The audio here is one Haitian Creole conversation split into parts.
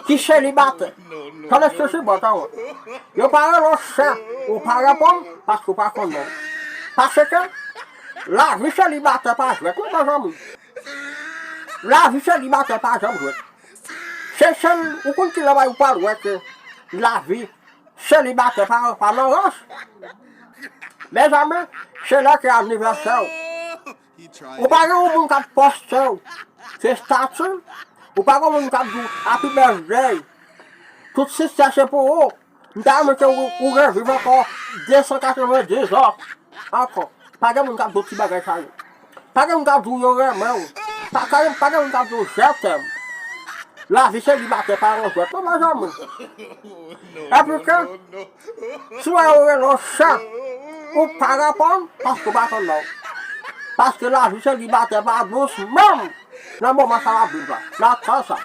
Ti selibatè, tande sisi bwa kawòt. Yo pa rele w sè, ou pa reponn paske ou pa konn non. Paske, lavi selibatè pa jwèt non mezanmi. Lavi selibatè pa janm jwèt. Se sèl, ou konn kilè bagay ou pral wè ke lavi selibatè pa nan rans? Mezanmi, se lè ke anivèsè w. Ou pa gen yon moun kap postew se statut ou pa gen moun kap diw happy birthday tout siksè se pou ou m ta renmen ke ou reviv ankò 290 ans ankò pa gen moun kap diw ti bagay sa yo pa gen moun kap diw yo renmenw pa gen moun kap diw je t'aime lavi se li batè pa yon jwèt non mezanmi epi ke Si w wè yo rele w chè, ou pa reponn paske ou pa konn non. Paske lavi selibatè pa dous menm nan moman sa w ap viv la, nan tan sa.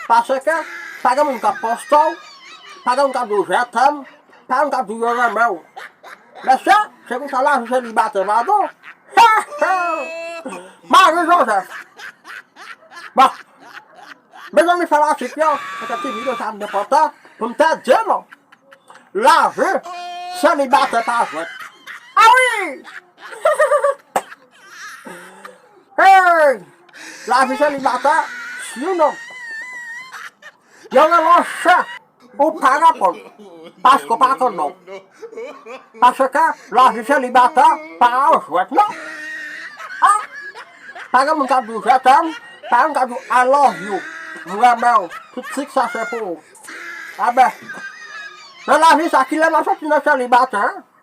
Paske, pa gen moun k ap poste w, pa gen moun k ap di w je t'aime, pa gen moun k ap di w yo renmen w. Mesye, se konsa lavi selibatè pa dous. He he! Marie Joseph! Bon! Mezanmi fanatik yo kite ti video sa byen pote pou m te di nou la vi selibatè pa jwèt a wi Hey la vi selibatè few non Yo rele w chè. Ou pa reponn paske w pa konn non. Paske lavi selibata pa yon jwèt non. Ha! Pa gen moun k ap di w je t'aime, pa gen moun k ap di w I love you, m renmen w, tout sik sa se pou ou. Enben, nan lavi sa kilè n ap soti nan selibatè?